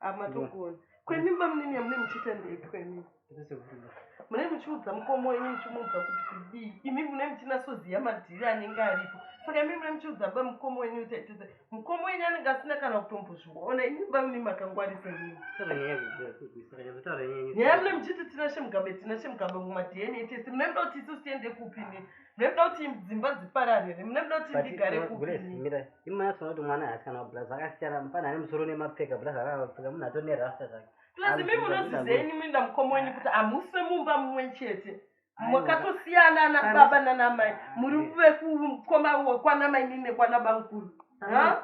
Ah, matogona kwemi bamunini yamune muchiita ndei kwemi mune muchiudza mukoma wenyu muchimuudza kuti kudii imi mune muchinasoziva madhiri anenge aripo saka imi mune muchiudza ba mukoma wenyu kuti aitese mukoma wenyu anenge asina kana kutombozviona imi bamunini makangwarisa nini nyaya mune muchiti tinashe mugabe tinashe mugabe mumadna tese mune muda kuti isu tiende kupi nini Mekuda kuti dzimba dziparare here? Mekuda kuti ndigare kupi? Grace, mira. Imwe yacho kuti mwana haasikana kublaza akasiyana mfana ane musoro une mapfeka blaza akapfeka munhu atone rasta zvake. Plus imi munozizeni imi ndamukoma wenyu kuti hamufe mumba mumwe chete. Makatosiyana ana baba nana mai. Muri vekukoma kwana mai nini nekwana bamkuru.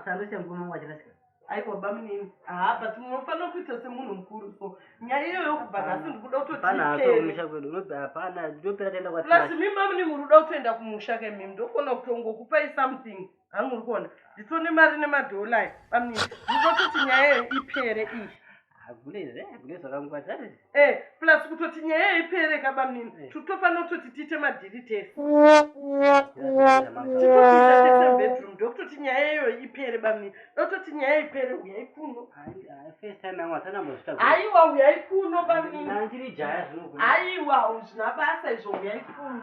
Sando chemukoma wachina sikana. Aiwa bamunini haa but munofanira kuita semunhu mukuru so nyaya iyo yokubva nhasi ndikuda kutotimusha kwedu unoti hapana ndopera taenda kwa plus mimi bamunini muri kuda kutoenda kumusha ke mimi ndokona kutongokupai something hangu uri kuona nditone mari nemadholai bamunini ndinototi nyaya iyo ipere iyi Eh, plus kutoti nyaya yaipere kabamnini eh. tutofanira kutoti tiite madhiri tese titoiaeebedroom ndokutoti nyaya iyoyo ipere bamnini ndokutoti nyaya ipere uyai kuno aiwa uyai kuno bamniniaiwa zvina basa izvo uyai kuno